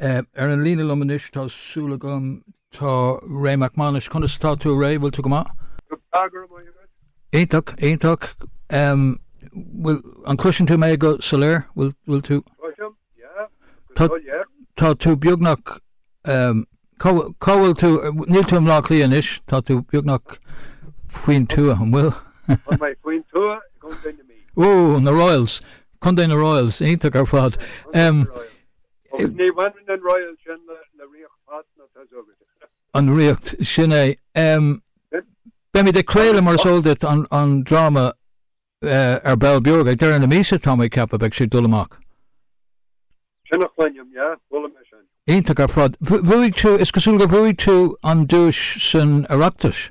Ar an líne liom anois tá súil agam tá Ray Mac Mánais. Conas atá tú Ray? Bhfuil tú go maith? Go breá go raibh maith agat. Iontach, iontach. Bhfuil, an cloiseann tú mé go soiléir? Bhfuil tú? Cloisim, yeah, go soiléir. Tá tú beagnach, cá bhfuil tú, níl tú i mBleá Cliath anois, tá tú beagnach faoin tuath, an bhfuil? Tá mé faoin tuath i gContae na Mí. Ooh, na Royals, Contae na Royals, iontach ar fad. An Ríocht, sin é. Beimid ag craoladh, mar is eol duit, an dráma ar ball beag ag deireadh na míosa, tá mé ag ceapadh, beidh sé ag dul amach. Iontach ar fad. Bhuaigh tú, is cosúil gur bhuaigh tú an duais san Oireachtas.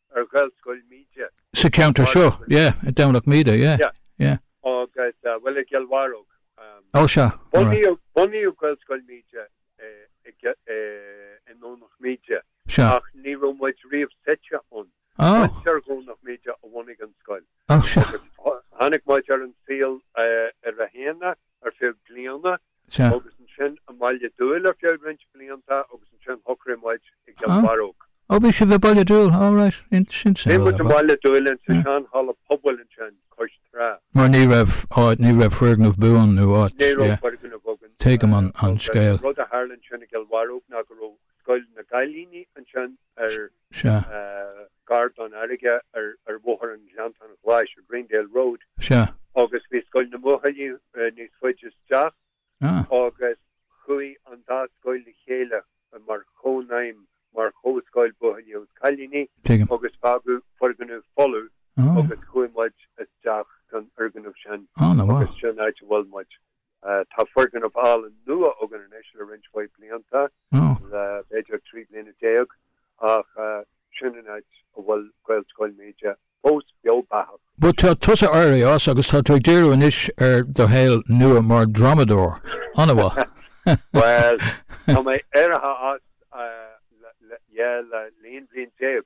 ar Ghaelscoil Míde. Sa cheantar seo, yeah, Domhnach Míde, yeah, yeah. Agus, bhuel, i gCill Bharróg. Ó, sea, alright. Bunaíodh Gaelscoil Míde i nDomhnach Míde, ach ní raibh muid riamh suite ann. Muintir Dhomhnach Míde a bhunaigh an scoil. Ó, sea. Agus tháinig muid ar an saol ar a haon ar feadh bliana. Sea. Agus ansin i mBaile Dúill ar feadh roinnt blianta agus ansin shocraigh muid i gCill Bharróg. Ó bhí sibh i Baile Dúill, oh right, sin é. Bhí muid i mBaile Dúill in sa sean halla pobail ansin cois trá. Mar ní raibh áit, ní raibh foirgneamh buan nó áit, yeah. Ní raibh foirgneamh againn. Tuigim an scéal. Rud a tharla ansin i gCill Bharróg ná go raibh scoil na gcailíní ansin. ar gar don fharraige ar Bhóthar an Ghleanntáin Ghlais, Greendale Road, agus bhí Scoil na mBuachaillí níos faide isteach agus chuaigh an dá scoil le chéile mar chónaidhm, mar chomhscoil buachaillí agus cailíní, agus fágadh foirgneamh folamh agus chuaigh muid isteach san fhoirgneamh sin agus sin an áit a bhfuil muid. Tá foirgneamh álainn nua againn anois le roinnt mhaith blianta, le b'fhéidir trí bliana déag, ach sin an áit a bhfuil Gaelscoil Míde fós beo beathach. Bhuel, tá tusa éirithe as agus tá tú ag díriú anois ar do shaol nua mar dhrámadóir. An-mhaith! Bhuel, tá mé éirithe as, yeah, le haon bhliain déag.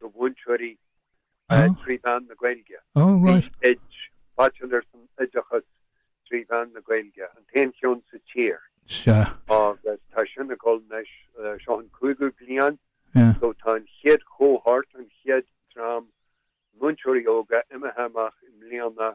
do mhúinteoirí trí mheán na Gaeilge. B.Ed. baitsiléir san oideachas trí mheán na Gaeilge, an t-aon cheann sa tír. Agus tá sin ag dul anois, seo an cúigiú bliain so tá an chéad chohort, an chéad dream múinteoirí óga imithe amach i mbliana.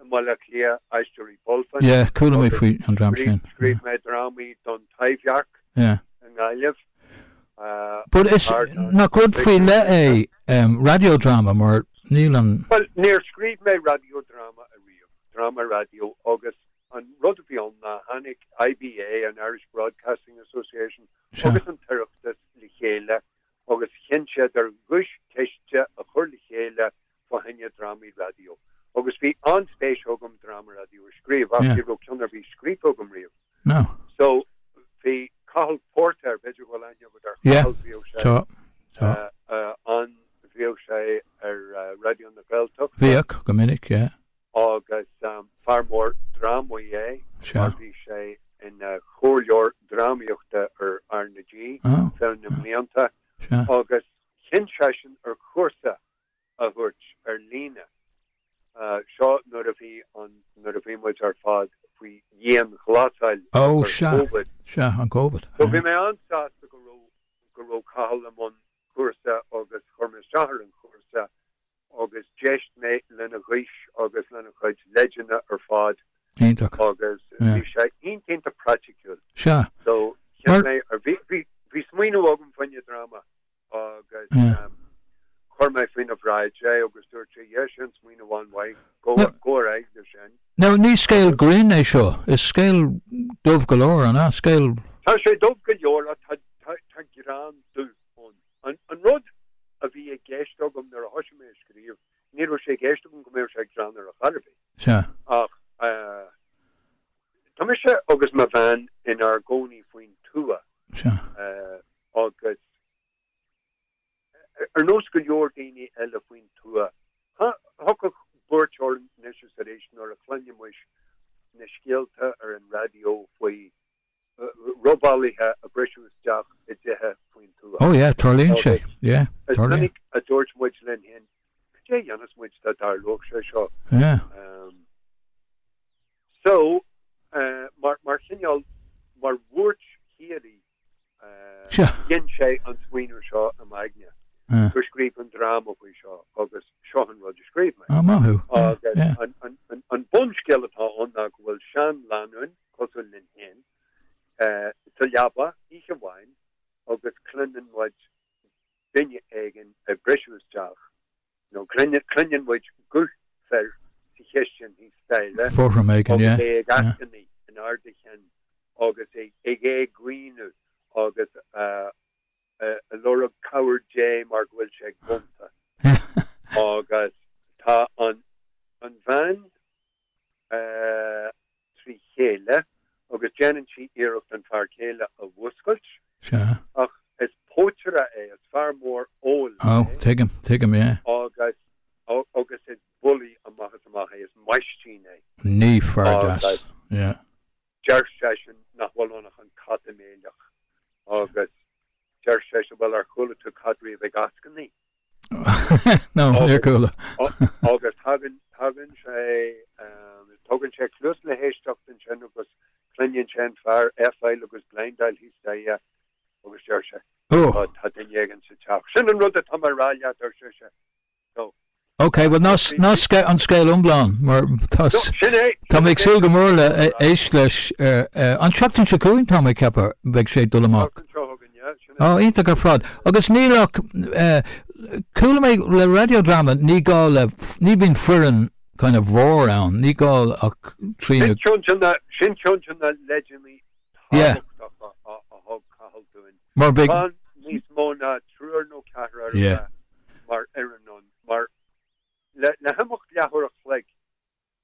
i mBaile Átha Cliath, Aisteoirí Bulfin, Corcaigh, scríobh mé drámaí don Taibhdhearc i nGaillimh, Ach rud faoi leith é raidiódráma mar níl aon, bhuel, níor scríobh mé raidiódráma ariamh, dráma raidió agus an rud a bhí ann ná tháinig IBA, an Irish Broadcasting Association, agus an tOireachtas le chéile agus chinn siad ar dhuaischiste a chur le chéile fá choinne drámaí raidió agus bhí an-spéis agam dráma raidió a scríobh ach ní raibh ceann ar bith scríofa agam riamh. No. So bhí Cathal Póirtéir, b'fhéidir go bhfuil aithne agat ar Chathal, bhíodh sé ann, bhíodh sé ar Raidió na Gaeltachta. Bhíodh, go minic, yeah. Agus fear mór drámaí é, mar bhí sé ina chomhairleoir drámaíochta ar R na G feadh na mblianta agus chinn seisean ar chúrsa a thabhairt ar líne. Seo nuair a bhí an, nuair a bhí muid ar fad faoi dhianghlasáil de bharr Covid. Ó sea, sea, an Covid. So bhí mé an-sásta go raibh, go raibh Cathal i mbun cúrsa agus chuir mé isteach ar an chúrsa agus d'éist mé lena ghaois agus lena chuid leideanna ar fad. Iontach. Agus bhí sé iontach praiticiúil. Sea. So cheap mé, bhí, bhí, bhí smaoineamh agam fá choinne dráma. agus chuir mé faoina bhráid é agus dúirt sé, yeah, sin smaoineamh an-mhaith, gabh, gabh ar aghaidh leis sin. Now, ní scéal grinn é seo, is scéal dubh go leor, an ea? Scéal. Tá sé dubh go leor ach tá, tá, tá greann dubh ann. An, an rud a bhí i gceist agam nuair a thoisigh mé a scríobh, ní raibh sé i gceist agam go mbeadh sé greannmhar ar chor ar bith. Sea. Ach, eh, tá mise agus mo bhean inár gcónaí faoin tuath. Sea. Eh, agus ar nós go leor daoine eile faoin tuath, thagadh buairt orainn anois is arís nuair a chluinimis na scéalta ar an raidió faoi robálaithe ag briseadh isteach i dtithe faoin tuath. Ó yeah, tarlaíonn sé, yeah, tarlaíonn. Is minic a dúirt muid linn fhéin, cad é a dhéanfadh muid dá dtarlódh sé seo? Yeah. Um, so, uh, mar, mar chineál, mar bhuairt shíoraí, Sea. Ghin sé an smaoineamh seo i m'aigne go scríobhfainn dráma faoi seo agus seo an rud a scríobh mé. Á, maith thú. Agus an bunscéal atá ann ná go bhfuil seanlánúin, cosúil linn féin, sa leaba oíche amháin agus cluineann muid duine éigin ag briseadh isteach. No, cluineann muid guth fir sa chistin thíos staighre agus é ag eascainí in airde a chinn agus é ag éagaoineadh agus ag lorg cabhair Dé mar go bhfuil sé gonta. Agus tá an bhean. trí chéile agus déanann sí iarracht an fear céile a mhúscailt. Sea. Ach is pótaire é, is fear mór óil é. Oh, tuigim, tuigim, yeah. Agus, agus is bully amach is amach é, is maistín é. Ní fear deas, yeah. Deir seisean nach bhfuil ann ach an cat ag méileach agus Deir sise, Bhuel, ar chuala tú cat riamh ag eascainí? No, níor chuala. Agus tagann, tagann sé, tugann sé cluas le héisteacht ansin agus cluineann sé an fear, a thuilleadh agus bladhmadáil thíos staighre agus deir sé, Tá, tá duine éigin sa teach. Sin an rud atá mé a rá leat, arsa sise. So. Ok, bhuel ná ná sceith an scéal iomlán mar tá No, sin é, tá sin mé an ag scéal súil go iomlán mór le a a atá. éisteacht leis ar ar an tseachtain seo chugainn tá mé ag ceapadh beidh sé ag dul Tá amach. anseo chugainn, yeah, sin é. Á, iontach ar fad. Agus níl ach eh, chuala mé le radio drama ní gá le f- ní bíonn foireann kind of mhór ann, ní gá ach triúr Sin ceann de na sin ceann de na leideanna Yeah. tábhachtacha a a thug Cathal dúinn. Mar beidh. Níos mó ná triúr nó ceathrar ar a mhéad mar fhoireann ann, mar le himeacht leathuair a chloig,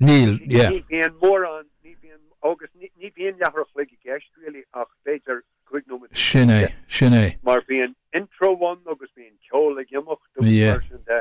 níl, yeah. Ní bhíonn mórán, ní bhíonn, agus ní bhíonn leathuair a chloig i gceist really ach b'fhéidir cúig nóiméad. Sin é, sin é. Mar bíonn intro ann agus bíonn ceol ag imeacht agus mar sin de.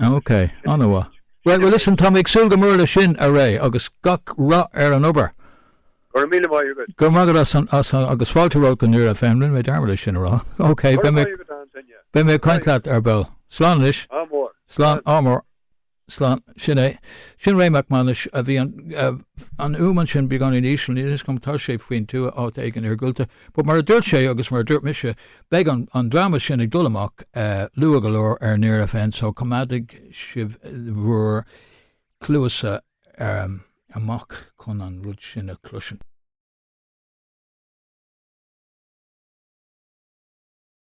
Ok, an-mhaith. Right, well listen, tá mé ag súil go mór leis sin, a Ray, agus gach rath ar an obair. Go raibh míle maith agat. Go raibh maith agat as an, as an, agus fáilte romhat go Near FM, rinne mé dearmad é sin a rá. Ok, Go raibh beidh mé, maith agat, Antaine. beidh mé ag caint Right. leat ar ball. Slán anois. Ádh mór. Slán, Slán. ádh mór. Slán, sin é. Sin Ray Mac Manais, a bhí an, eh, an fhuaim ansin beagáinín íseal, níl a fhios agam, tá sé faoin tuath, áit éigin iargúlta. But mar a dúirt sé agus mar a dúirt mise, beidh an dráma sin ag dul amach luath go leor ar Near FM so coimeádaigí sibh bhur cluasa amach chun an rud sin a chloisint.